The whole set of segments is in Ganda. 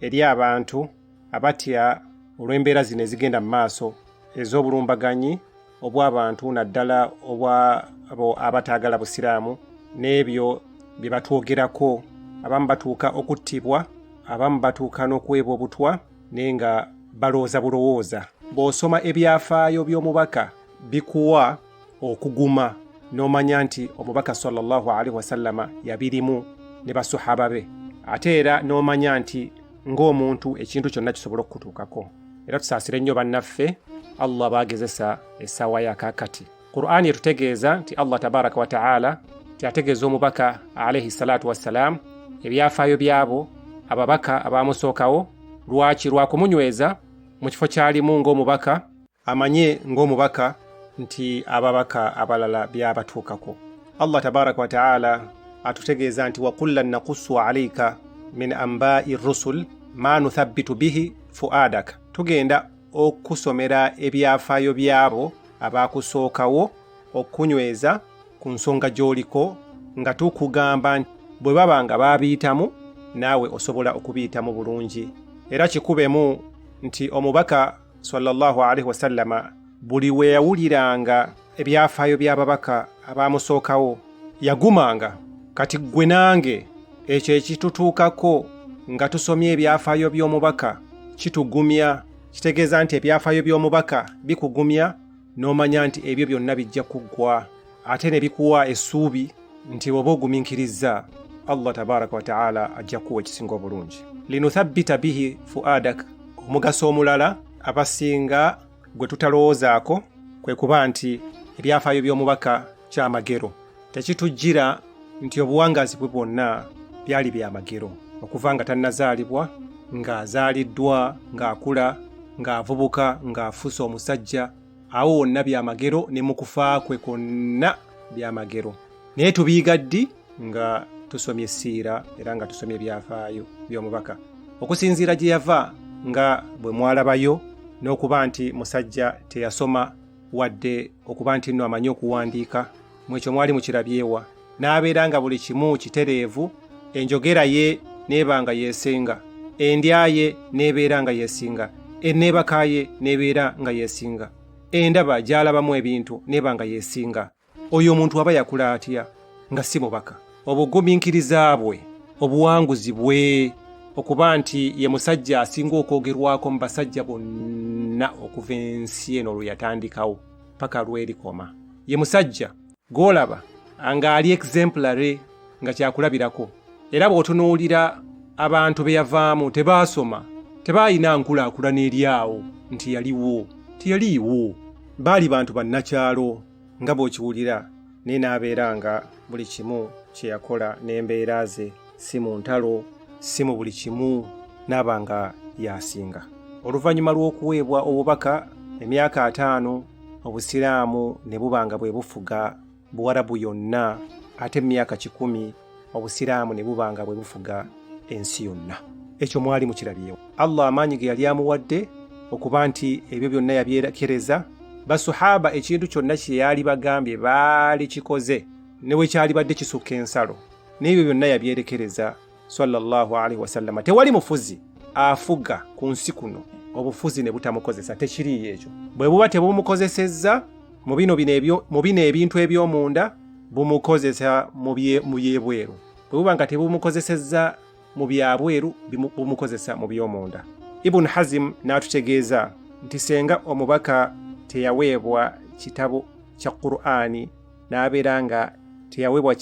eri abantu abatya olw'embeera zino ezigenda mu maaso ez'obulumbaganyi obw'abantu naddala obwa abataagala busiraamu n'ebyo bye batwogerako abamu batuuka okuttibwa abamu batuuka n'okuweebwa obutwa naye nga balowooza bulowooza bw'osoma ebyafaayo by'omubaka bikuwa okuguma n'omanya nti omubaka sallallahu alaihi wasallama yabirimu ne basuhaba be ate era n'omanya nti ng'omuntu ekintu kyonna kisobola okukutuukako era tusaasire nnyo bannaffe allah baagezesa essaawa yakakati qur'ani etutegeeza nti allah tabaraka wataala tyategeeza omubaka alaihi salatu wassalaamu ebyafaayo byabo ababaka abamusookawo lwaki lwakumunyweza mu kifo kyalimu ng'omubaka amanye ng'omubaka nti ababaka abalala byabatuukako allah tabaraka wataala atutegeeza nti wakullan nakusu alaika min ambai rusul ma nuthabbitu bihi fuadaka tugenda okusomera ebyafaayo byabo abakusookawo okunyweza ku nsonga gy'oliko nga tukugamba bwe baba nga baabiyitamu naawe osobola okubiyitamu bulungi era kikubemu nti omubaka sallallahu alaihi wasallama buli we yawuliranga ebyafaayo by'ababaka abaamusookawo yagumanga kati ggwe nange ekyo ekitutuukako nga tusomye ebyafaayo by'omubaka kitugumya kitegeeza nti ebyafaayo by'omubaka bikugumya n'omanya nti ebyo byonna bijja kuggwa ate ne bikuwa essuubi nti bw'oba ogumiikirizza allah tabaraka wataala ajja kuwa ekisinga obulungi linuthabbita bihi fuadak omugaso omulala abasinga gwe tutalowoozaako kwe kuba nti ebyafaayo by'omubaka kyamagero tekitujjira nti obuwangaazi bwe bwonna byali bya magero okuva nga tannazaalibwa ng'azaaliddwa ng'akula ng'avubuka ng'afuuse omusajja awo wonna bya magero ne mu kufa kwe kwonna bya magero naye tubiyiga ddi nga tusomye essiira era nga tusomye ebyafaayo by'omubaka okusinziira gye yava nga bwe mwalabayo n'okuba nti musajja teyasoma wadde okuba nti nno amanyi okuwandiika mu ekyo mwali mukirabyewa n'abeera nga buli kimu kitereevu enjogera ye n'eba nga yeesinga endya ye n'ebeera nga yeesinga enneebaka ye n'ebeera nga yeesinga endaba gy'alabamu ebintu n'eba nga yeesinga oyo omuntu aba yakula atya nga si mubaka obugumiikiriza bwe obuwanguzi bwe okuba nti ye musajja asinga okwogerwako mu basajja bonna okuva ensi eno lwe yatandikawo paka lwerikoma ye musajja gwolaba nga ali exemplary nga kyakulabirako era bw'otunuulira abantu be yavaamu tebaasoma tebaalina nkulaakulana eri awo nti yaliwo teyaliiwo baali bantu bannakyalo nga bw'okiwulira naye n'abeera nga buli kimu kye yakola n'embeera ze si mu ntalo si mu buli kimu n'aba nga y'asinga oluvannyuma lw'okuweebwa obubaka emyaka ataano obusiraamu ne buba nga bwe bufuga buwarabu yonna ate mu myaka kikumi obusiraamu ne buba nga bwe bufuga ensi yonna ekyo mwali mukirabyewo allah amaanyi ge yali amuwadde okuba nti ebyo byonna yabyerekereza basuhaba ekintu kyonna kye yaali bagambye baali kikoze ne bwe kyalibadde kisukka ensalo n'ebyo byonna yabyerekereza sallallahu alaihi wasallama tewali mufuzi afuga ku nsi kuno obufuzi ne butamukozesa tekiriiyo ekyo bwe buba tebumukozesezza mu bino ebintu eby'omunda bumukozesa mu byebweru bwe buba nga tebumukozesezza mu byabweru bumukozesa mu by'omunda ibuni hazimu n'atutegeeza nti senga omubaka teyaweebwa kitabo kya qur'ani n'abeera nga teyaweebwa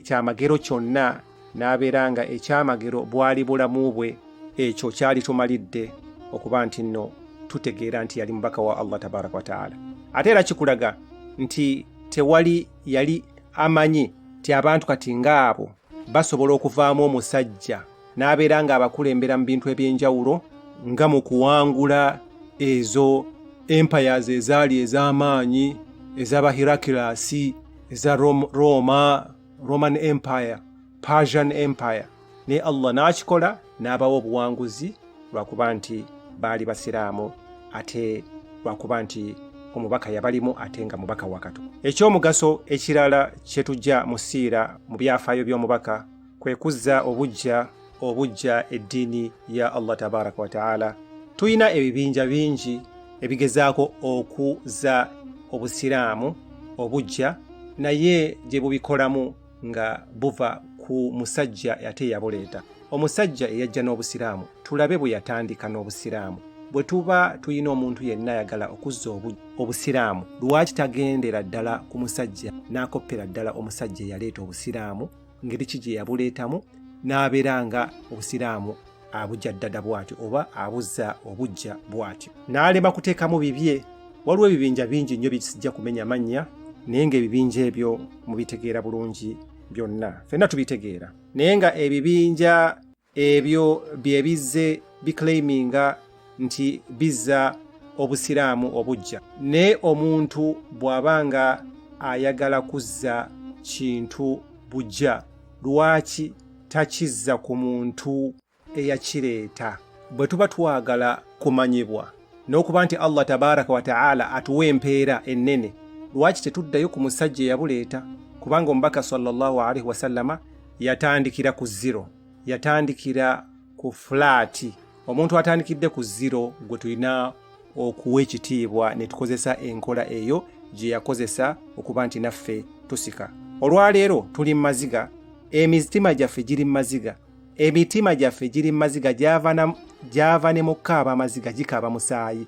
kyamagero kyonna n'abeera nga ekyamagero bwali bulamu bwe ekyo kyali tumalidde okuba nti nno tutegeera nti yali mubaka wa allah tabaraka wataala ate era kikulaga nti tewali yali amanyi nti abantu kati ng'abo basobola okuvaamu omusajja n'abeera ng'abakulembera mu bintu eby'enjawulo nga mu kuwangula ezo empires ezaali ez'amaanyi ez'abahirakilasi eza roma roman empire persian empire naye allah n'akikola n'abawa obuwanguzi lwakuba nti baali basiraamu ate lwakuba nti omubaka yabalimu ate nga mubaka wakatu ekyomugaso ekirala kyetujja mu siira mu byafaayo by'omubaka kwe kuzza obuggya obuggya eddiini ya allah tabaraka wataala tulina ebibinja bingi ebigezaako okuza obusiraamu obuggya naye gye bubikolamu nga buva ku musajja ate yabuleeta omusajja eyajja n'obusiraamu tulabe bwe yatandika n'obusiraamu bwe tuba tulina omuntu yenna ayagala okuzza obusiraamu lwaki tagendera ddala ku musajja n'akoppera ddala omusajja eyaleeta obusiraamu ngeri ki gye yabuleetamu n'abeera nga obusiraamu abujja ddada bw'atyo oba abuzza obujja bw'atyo n'alema kuteekamu bibye waliwo ebibinja bingi nnyo byekisijja kumenya mannya naye ng'ebibinja ebyo mubitegeera bulungi byonna fenna tubitegeera naye nga ebibinja ebyo bye bizze biclaiminga nti bizza obusiraamu obujja naye omuntu bw'aba nga ayagala kuzza kintu bujja lwaki takizza ku muntu eyakireeta bwe tuba twagala kumanyibwa n'okuba nti allah tabaraka wataala atuwa empeera ennene lwaki tetuddayo ku musajja eyabuleeta kubanga omubaka sallallahu alaihi wasallama yatandikira ku zero yatandikira ku fulaati omuntu atandikidde ku zero gwe tulina okuwa ekitiibwa ne tukozesa enkola eyo gye yakozesa okuba nti naffe tusika olwaleero tuli mu maziga emitima gyaffe giri mu maziga emitima gyaffe giri mu maziga gyava ne mu kaaba amaziga gikaaba musaayi